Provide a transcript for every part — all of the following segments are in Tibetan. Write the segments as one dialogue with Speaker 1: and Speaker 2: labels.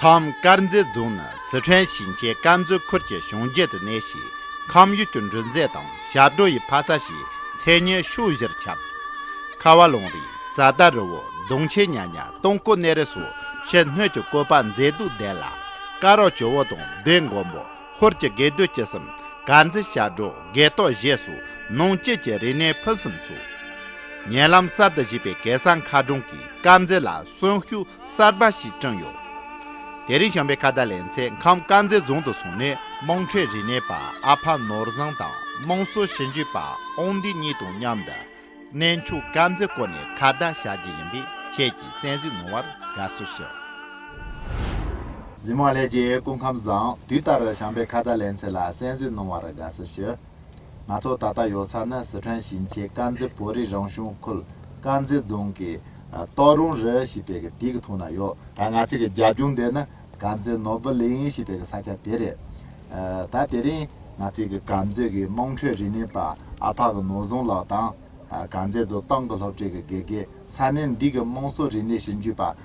Speaker 1: ཁམས་དཀར་མཛེས་རྫོང་ནི་སི་ཁྲོན་ཞིང་ཆེན་དཀར་མཛེས་ཁུལ་གྱི་གཞུང་བརྒྱུད་དུ་གནས་ཤིང་ཁམས་ཡུལ་གྱི་འབྲུ་མཛེས་དང་ཞབས་བྲོ་ཡི་ཕ་ས་ཞེས་མཚན་སྙན་ཕྱོགས་བཞིར་ཁྱབ། ཁ་བ་ལུང་རིགས་རྩྭ་ལྟ་རི་བོ་གདོང་ཆེ་གཉའ་གཉ་སྟོང་སྐོར་གནས་རི་སོགས་ཕྱི་སྣོད་ཀྱི་བཀོད་པ་མཛེས་སྡུག་ལྡན་ལ། སྐ་རགས་ཇོ་བོ་དང་སྡེ་མགོན་པོ་ཧོར་གྱི་དགེ་འདུན་སྐྱིད་གསུམ་དཀར་མཛེས་ཞབས་བྲོ་དགེ་ཐོག་བཞེས་སོགས་ནང་བཅུད་ཀྱི་རིག་གནས་ཕུན་སུམ་ཚོགས། ཉེ་ལམ་གསར་དུ་བཞུགས་པའི་གེ་སར་མཁར་གྲོང་གིས་དཀར་མཛེས་ལ་གསོན་ཤུགས་གསར་པ་ཞིག་བསྐྲངས་ཡོད། དེ་རིང་བྱམས་པའི་ཁ་བརྡ་ལེན་ཚེ་ཁམས་དཀར་མཛེས་རྫོང་དུ་སོང་ནས་དམངས་ཁྲོད་རིག་གནས་པ་ཨ་ཕ་ནོར་བཟང་དང་དམངས་སྲོལ་ཞིབ་འཇུག་པ་ཨོང་ལྡི་གཉིས་དང་མཉམ་དུ་གནས་མཆོག་དཀར་མཛེས་སྐོར་ནས་ཁ་བརྡ་བྱ་རྒྱུ་ཡིན་པས་ཁྱེད་ཀྱིས་གསན་གཟིགས་གནང་བར་དགའ་བསུ་ཞུ། འཛིན་མ་ལྷས་རྒྱལ་སྐུ་ཁམས་བཟང་དུས་ལྟར་བྱམས་པའི་ཁ་བརྡ་ལེན་ཚེ་ལ་གསན་གཟིགས་གནང་བར་དགའ་བསུ་ཞུ། ང་ཚོ་ད་ལྟ་ཡོད་ས་ནི་སི་ཁྲོན་ཞིང་ཆེན་དཀར་མཛེས་བོད་རིགས་རང་བྱུང་ཁུལ་དཀར་མཛེས་རྫོང་གི་ཏའོ་རུང་རི་ཞེས་པའི་གི་དིག་གི་ཐོག་ན་ཡོད། ང་ཚོས་གི་རྒྱ་རྒྱུག་འདི་ནི་དཀར་མཛེས་ནོར་བུ་གླིང་ཞེས་པའི་གི་ས་ཆ་དེ་རེད། ད་དེ་རིང་ང་ཚོས་གི་དཀར་མཛེས་གི་དམངས་ཁྲོད་རིག་གནས་པ་ཨ་ཕག་གི་ནོར་བཟང་ལགས་དང་དཀར་མཛེས་རྫོང་ཏང་གི་སློབ་གྲྭའི་གི་དགེ་རྒན་ས་གནས་འདི་གི་དམངས་སྲོལ་རིག་གནས་ཞིབ་འཇུག་པ་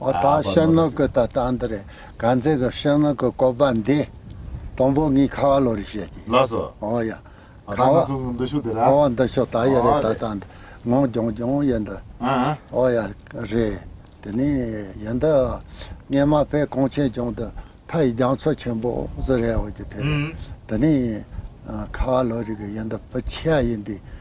Speaker 1: འོ་ད་ཤར་ནུབ་
Speaker 2: ཀྱི་ད་ལྟ་འདི་རེད་ག་མཛེས་ཀྱི་ཤར་ནུབ་ཀྱི་བཀོད་པ་འདི། དང་པོ་ངས་ཁ་བ་ལོ་རེ་བཤད་ཀྱི། ལགས་སོ། འོ་ཡ། ད་ཁ་བ།
Speaker 1: ང་ཚོ་ངོ་འདི་ཤོག་དེ་ར། འོ་འདི་
Speaker 2: ཤོག་ད་ཡ་རེད་ད་ལྟ་འདི། ངོ་རྒྱོང་རྒྱོང་ཡ་འདི། ཨ་ཨ། འོ་ཡ། རེད། དེ་ནས་ཡ་འདི། སྙེ་མ་བས་གོང་ཆེན་རྒྱོང་དུ། ཕ་ཡི་རྒྱང་མཚོ་ཆེན་པོ་བཟོ་རེད་འོ་ཀྱི་དེ་རེད། དེ་ནས། ཁ་བ་ལོ་རེ་གི་ཡ་འདི་བུ་ཆེ་ཡ་ཡིན་དེ།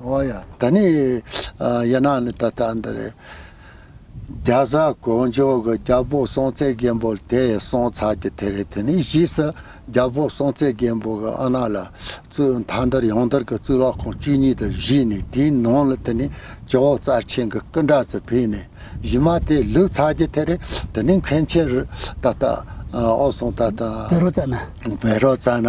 Speaker 1: ཨོ་ཡ། ད་
Speaker 2: ནི་ཡིན་ནའང་ནི་ད་ལྟ་འདི་རེད། རྒྱ་བཟའ་གོང་ཇོ་གི་རྒྱལ་པོ་སྲོང་བཙན་སྒམ་པོ་དེ་སོང་ཚར་གྱི་དེ་རེད་དེ་ནི་གཞིས་སུ་རྒྱལ་པོ་སྲོང་བཙན་སྒམ་པོ་གི་ཨ་ན་ལ་གཙོས་མཐའ་འདིར་ཡང་འདིར་གྱི་གཙུག་ལག་ཁང་བཅུ་གཉིས་དེ་བཞུས་ནས་དེའི་ནང་ལ་དེ་ནི་ཇོ་བོ་རྩལ་ཆེན་གྱི་སྐུ་འདྲ་ཚོ་ཕུད་ནས་གཞི་མ་དེ་ལུག་ཚར་གྱི་དེ་རེད་དེ་ནི་མཁན་ཆེན་རུ་ད་ལྟ་ཨོ་སོང་ད་ལྟ། བེ་རོ་ཙཱ་ན། བེ་རོ་ཙཱ་ན།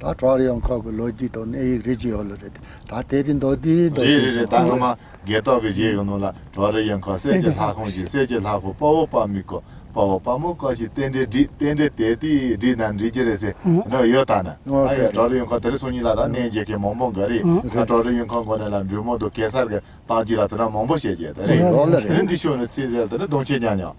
Speaker 2: ད་ཀྲོའུ་རི་ཡོང་ཁོག་གི་ལོ་རྒྱུས་དང་གནས་ཡིག་རེ་བཅུ་ཡོད་ལ་རེད་དེ། ད་དེ་རིང་མདོ་དེའི་མདོ་རེད་རེད་རེད་ད་སྔོན་མ་
Speaker 1: རྒས་ཏོག་གི་གཞས་གི་ནང་ལ་ཀྲོའུ་རི་ཡོང་ཁོག་གསེར་གྱི་ལྷ་ཁང་ཞིག་གསེར་གྱི་ལྷ་ཁང་དཔའ་བོ་དཔའ་མི་ཀོ་དཔའ་བོ་དཔའ་མོ་ཀོ་ཞིག་རྟེན་འབྲེལ་བསྒྲིགས་རྟེན་འབྲེལ་དེ་དུས་བསྒྲིགས་ནམ་བསྒྲིགས་ཀྱི་རེད་ཟེར་གི་ནང་ཡོད་ད་ནི། ཨ་ཡ་ཀྲོའུ་རི་ཡོང་ཁོག་དེ་རིང་སོང་ཉིན་ལ་ད་གནས་མཇལ་མཁན་མང་པོ་འགའ་རེ་ད་ཀྲོའུ་རི་ཡོང་ཁོག་མགོ་ནས་ལ་འབྲུག་མོ་དུ་གེ་སར་གི་བཏང་རྒྱུ་ལ་དུ་ན་མང་པོ་བཤད་ཀྱི་ཡོད་ད་རེད། རིང་གི་ཤོ་ནི་ཚིག་གསལ་དུ་ནི་གདོང་ཆེ་ཉག་ཉག།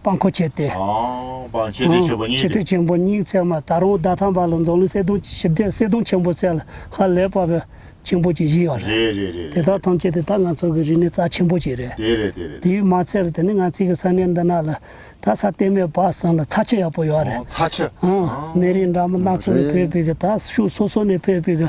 Speaker 3: སྤང་འཁོར་བྱས་ཏེ། སྤང་
Speaker 1: བྱས་ཏེ་བྱེད་པོ་གཉིས་ཏེ། བྱེད་ཐོས་ཆེན་པོ་སྙིང་བརྩེགས་
Speaker 3: མ་ད་རུང་ཟླ་ཐམ་པ་ལ་མདོ་ལུས་གསལ་སྟོང་ཞི་བདེ་གསལ་སྟོང་ཆེན་པོ་གསལ་ལ་ཧ་ལས་པ་བས་ཆེན་པོ་གྱི་བཞི་ཡོད་རེད། རེད་རེད་རེད་དེ་དག་རེད། ཐམས་ཅད་དེ་དག་ང་ཚོ་གི་རིག་གནས་རྩ་ཆེན་པོ་ཞིག་རེད། དེ་རེད་དེ་རེད། དེའི་མ་ཚད་ལ་དེ་ནི་ང་ཚིག་གི་ས་གནས་འདི་ན་ལ་ད་ས་གཏན་མེད་པ་ཟིན་ལ་ཚ་ཆུ་ཡག་པོ་ཡོད་རེད། ཚ་ཆུ། ཨང།
Speaker 1: ནད་རིགས་འདྲ་མོ་
Speaker 3: སྣ་ཚོགས་ནས་འཕེལ་བའི་གི་ད་ཤུགས་སོ་སོ་ནས་འཕེལ་བའི་གི།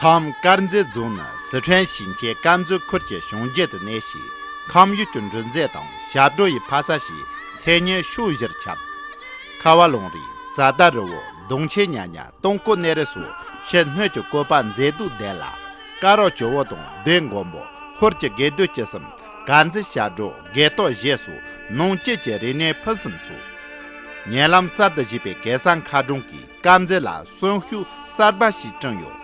Speaker 1: ཁམས་དཀར་མཛེས་རྫོང་ནི་སི་ཁྲོན་ཞིང་ཆེན་དཀར་མཛེས་ཁུལ་གྱི་གཞུང་བརྒྱུད་དུ་གནས་ཤིང་ཁམས་ཡུལ་གྱི་འབྲུ་མཛེས་དང་ཞབས་བྲོ་ཡི་ཕ་ས་ཞེས་མཚན་སྙན་ཕྱོགས་བཞིར་ཁྱབ། ཁ་བ་ལུང་རིགས་རྩྭ་ཟླ་རི་བོ་གདུང་ཆེན་གཉའ་གཉའ་སྟོང་སྐུ་གནས་རི་སོགས་ཕྱི་སྣོད་ཀྱི་བཀོད་པ་མཛེས་སྡུག་ལྡན་ལ། སྐ་རགས་ཇོ་བོ་དང་སྡེ་མགོན་པོ་ཧོར་གྱི་དགེ་འདུན་སྐྱིད་གསུམ་དགའ་མཛེས་ཞབས་བྲོ་དགེ་ལྟོ་བཞེས་སོགས་ནང་སྐྱེས་ཀྱི་རིག་གནས་ཕུན་སུམ་ཚོགས། ཉེ་ལམ་གསར་དུ་བཞུགས་པའི་གེ་སར་མཁར་གྲོང་གི་དཀར་མཛེས་ལ་གསོན་ཤུགས་གསར་པ་ཞིག་བསྐྲུན་ཡོད།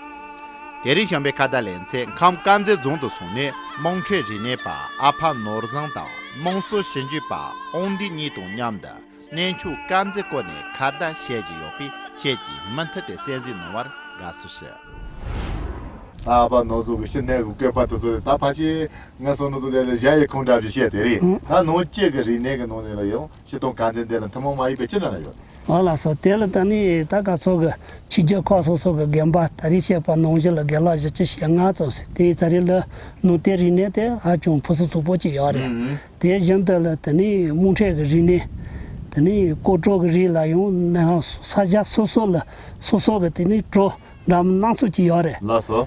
Speaker 1: དེ་རིང་བྱམས་པའི་ཁ་བརྡ་ལེན་ཚེ་ཁམས་དཀར་མཛེས་རྫོང་དུ་སོང་ནས་དམངས་ཁྲོད་རིག་གནས་པ་ཨ་ཕ་ནོར་བཟང་དང་དམངས་སྲོལ་ཞིབ་འཇུག་པ་ཨོང་ལྡི་གཉིས་དང་མཉམ་དུ་གནས་མཆོག་དཀར་མཛེས་སྐོར་ནས་ཁ་བརྡ་བྱས་ཀྱི་ཡོད་པས་ཁྱེད་ཀྱིས་མུ་མཐུད་དེ་གསན་གཟིགས་གནང་བར་དགའ་བསུ་ཞུ། ཨ་ཕ་ནོར་བཟང་གི་ཤི་ནས་གུ་གེ་བར་དུ་ཚོར་བས་ད་ཕ་ཆེ། ངའི་སོ་ནུ་དུ་ལས་ལ་བཞག་ཡས་ཁུངས་འདྲ་བཞིན་བཤད་དེ་རེད། ད་ནང་བཅས་ཀྱི་རིག་གནས་ཀྱི་ནང་ནས་ལ་ཡང། ཤེས་སྟོང་གང་དེ་འདི་ལ་
Speaker 3: ཐུན་མོང་མ་ཡིན་པའི་ཕྱིར་ན་ལ་ཡོད། འོ་ལ་སོགས་དེ་ལ་ད་ནི་ད་ག་ཚོད་ཀྱི་ཕྱི་རྒྱལ་ཁག་སོ་སོ་ཀྱི་རྒན་པ་ད་རེས་བཤད་པ་ནང་བཞིན་ལ་རྒན་ལགས་བཞི་བཅུ་ཞེ་ལྔ་ཙམ་ཟེར་དེའི་ད་རེས་ལ་ནུ་དའི་རིག་གནས་དེ་ཧ་ཅང་ཕུན་སུམ་ཚོགས་པོ་ཅིག་ཡོད་རེད། དེ་བཞིན་དུ་ལ་དེ་ནི་རྨོངས་ཁྲེལ་གྱི་རིག་གནས། དེ་ནི་བརྐོས་དཀྲོལ་གྱི་རིགས་ལ་ཡང་ནའང་ས་གཞི་སོ་སོ་ལ་སོ་སོ་ཀྱི་དེ་ནི་དཀྲོལ་འགྲམ་སྣ་ཚོགས་ཅིག་ཡོད་རེད། ལགས་སོ།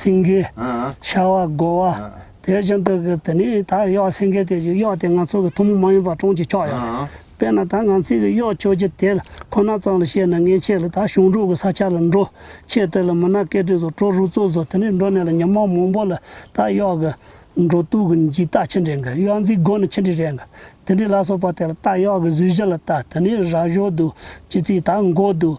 Speaker 3: སེང་གེ། ཤྭ་བ། སྒོ་བ། དེ་བཞིན་དུ་གྱི་དེ་ནས་ད་གཡོག་སེང་གེ་དེ་བཞིན་གཡོག་དེ་ང་ཚོ་གི་ཐུན་མོང་མ་ཡིན་པ་གྲོང་གྱི་ཁྱོག་གཡོག་རེད། དཔེར་ན་ད་ང་ཚོས་གི་གཡོག་ཁྱོག་གྱི་དེ་ཁོ་ན་ཙམ་ལ་བཤད་ན་ངས་ཁྱེད་ལ་ད་གཞུང་དྲུག་གི་ས་ཆ་ལ་འགྲོ། ཁྱེད་དེ་ལ་མི་ནག་སྐད་དྲིས་སོ་ཀྲོ་རུ་ཙོ་སོ་དེ་ནས་འགྲོ་ནས་ལ་ཉི་མ་མང་པོ་ལ་ད་གཡོག་གི། འགྲོ་དུས་གི་འཇིག་རྟགས་ཆེ་འདྲེ་གི་གཡོག་འཛིན་སྒོ་ནི་ཆེ་འདྲེ་རེད་གི། དེ་འདྲེ་ལ་སོགས་པ་དེ་ལ་ད་གཡོག་གི་གཟུགས་གཞི་ལ་ད་དེ་ནས་ར་ཞོ་དུ། ཅི་ཚིག་ད་མགོ་དུ།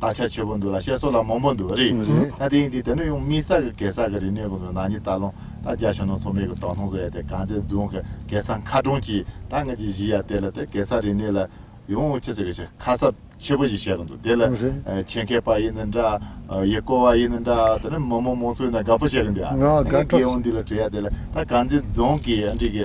Speaker 1: ད་ཆ་ཆེ་པོ་འདུག་ལ་བཤད་སྲོལ་ལ་མང་པོ་འདུག་རེད་ད་དེང་དུས་དེ་ནི་ཡང་དམིགས་བསལ་གྱི་གེ་སར་གྱི་རིག་གནས་ཀུན་ཏུ་ནག་ཉེས་ལྟ་ལོང་ད་རྒྱ་ཕྱི་ནང་ཚོགས་མེད་ཀྱི་དོགས་སྣང་བཟོ་ཡ་དེ་གངས་ཅན་རྫོང་གི་གེ་སར་མཁའ་གྲོང་གྱིས་ད་ངེད་ཀྱིས་གཞིས་ཡ་དེ་ལ་དེ་གེ་སར་རིག་གནས་ལ་ཡང་ཅི་ཟེར་གི་ཞེས་ཁ་གསབ་ཆེ་པོ་ཞིག་བྱས་གི་འདུག་དེ་ལ་ཆེད་མཁས་པ་ཡིན་ནི་འདྲ་ཡིད་སྐོ་བ་ཡིན་ནི་འདྲ་དེ་ནི་མི་མང་མང་ཚོས་ནི་དགའ་པོ་བྱེད་གི་འདུག་ཨ་ངས་དགེ་འོས་འདི་ལ་བྲིས་ཡ་དེ་ལ་ད་གངས་ཅན་རྫོང་གིས་ཨ་འགྲིག་གི།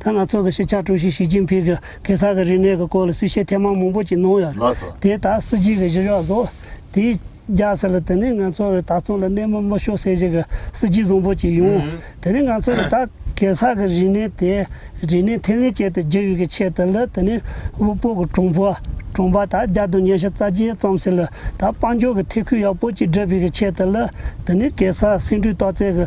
Speaker 3: ད་ང་ཚོ་གི་སྤྱི་ཁྱབ་ཀྲུའུ་ཞི་ཞི་ཅིན་ཕིང་གིས་གེ་སར་གྱི་རིག་གནས་ཀྱི་སྐོར་ལ་གསུས་བཤད་ཐེངས་མང་མང་པོ་ཅིག་གནང་ཡོད། དེ་ལྟ་སྲིད་ཅིག་གི་གཞི་གཞོགས་བཟོ། དེའི་རྒྱ་ཟེར་ལ་དེ་ནི་ང་ཚོ་གི་ད་ཚོང་ལ་གནས་མོ་མི་ཤོར་སེ་ཞིག་གི་སྲིད་ཇུས་བཟང་པོ་ཅིག་ཡོང། དེ་ནི་ང་ཚོ་གི་ད་གེ་སར་གྱི་རིག་གནས་དེ་རིག་གནས་ཐེ་ལན་ཅན་དུ་བསྒྱུར་ཡོད་ཀྱི་ཆེད་དུ་ལ་དེ་ནི་དབུལ་པོ་གི་གྲོང་པོ་གྲོང་པ་ད་རྒྱ་དུ་ཉེ་ཞིག་རྩ་ཆེན་བརྩམས་སེ་ལ་ད་དཔལ་འབྱོར་གྱི་ཐེ་ཁུལ་ཡག་པོ་ཅིག་སྒྲུབ་ཡོད་ཀྱི་ཆེད་དུ་ལ་དེ་ནི་གེ་སར་སེང་ཁྲུས་ཏོག་ཙེ་གི།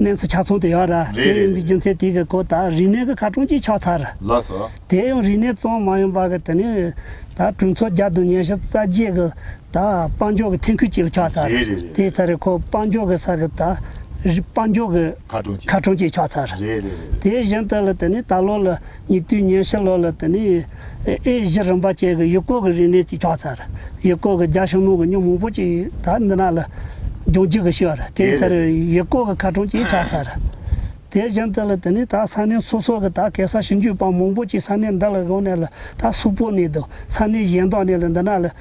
Speaker 3: གནས་སུ་ཆ་ཚང་དུ་ཡོད་ར་དེ་ཡིན་པའི་རྒྱུ་མཚན་དེ་གི་གོ་ད་རིག་གནས་གི་ཁ་གྲོང་གྱིས་ཆགས་ཚར། དེ་ཡང་
Speaker 1: རིག་གནས་གཙང་
Speaker 3: མ་ཡིན་པ་གི་དེ་ནས་ད་གྲོས་ཚོགས་རྒྱ་དུ་ཉེ་ཞིག་རྩ་རྒྱས་གི་ད་དཔང་འཇོག་གི་ཐེན་ཁུལ་གྱིས་ཆགས་ཚར། དེའི་ཚ་རེ་ཁོ་དཔང་འཇོག་གི་ས་གི་ད་རིག་དཔང་འཇོག་གི་ཁ་གྲོང་གྱིས་ཆགས་ཚར། དེ་བཞིན་དུ་ལ་དེ་ནས་ད་ལོ་ལ། ཉེ་དུས་ཉེར་ཕྱེད་ལོག་ལ་དེ་ནི་ཨེ་ཤི་རིམ་པ་ཅན་གྱི་ཡུལ་སྐོར་གྱི་རིག་གནས་ཀྱི་ཁྱོགས་ཚར། ཡུལ་སྐོར་གྱི་རྒྱ་ཞུམ་མོ་གི་སྙོམས་མང་པོ་ཅིག་ད་འདི་ན་ལ་འབྱུང་བགྱིད་ཀྱི་ཤོར། དེའི་ཕྱིར་ཡུལ་སྐོར་གྱི་ཁ་གྲངས་ཀྱིས་ཁྱག་ཚར། དེ་བཞིན་དུ་ལ་དེ་ནི་ད་ས་གནས་སོ་སོ་གི་ད་གེ་སར་ཞིང་བརྒྱུད་པ་མང་པོ་ཅིག་ས་གནས་འདི་ལ་བཞུགས་ནས་ལ་ད་སུག་པོ་གནས་འདུག་ས་གནས་གཞན་དག་ནས་ལ་འདི་ན་ལ་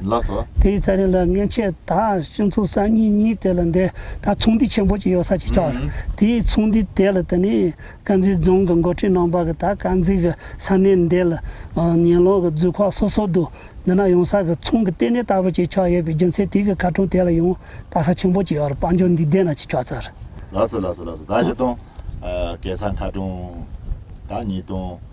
Speaker 3: ལགས་སོ། དེ་ཡི་ཚེ་
Speaker 1: རིང་ལ་མངལ་
Speaker 3: ཆད་དག་སྤྱི་མཚུངས་སར་གཉིས་གཉིས་དེ་ལ་འདས་ད་ཚོང་འདུས་ཆེན་པོ་གཅིག་ཡོད་ས་གཅིག་ཆགས། དེ་ཡི་ཚོང་འདུས་དེ་ལ་དེ་ནས་དཀར་མཛེས་རྫོང་གི་མགོ་ཁྲིད་ནང་པ་གི་ད་དཀར་མཛེས་གི་ས་གནས་འདི་ལ་ཉེ་ལོག་གི་རྫུས་ཁོག་སོ་སོ་འདུག་འདི་ན་ཡོང་ས་གི་ཚོང་གི་ལྟེ་གནས་ལྟ་བུ་གཅིག་ཆགས་ཡོད་པའི་རྒྱུ་མཚན་དེ་གི་ཁ་གྲོང་དེ་ལ་ཡང་དག་ས་ཆེན་པོ་གཅིག་ཡོད་རེད་དཔལ་འབྱོར་འདི་འདས་ན་གཅིག་ཆགས་ཚར། ལགས་སོ་ལགས་སོ་ལགས་
Speaker 1: སོ་ད་བཞི་སྟོང། གེ་སར་མཁའ་གྲོང་ད་གཉིས་སྟོང།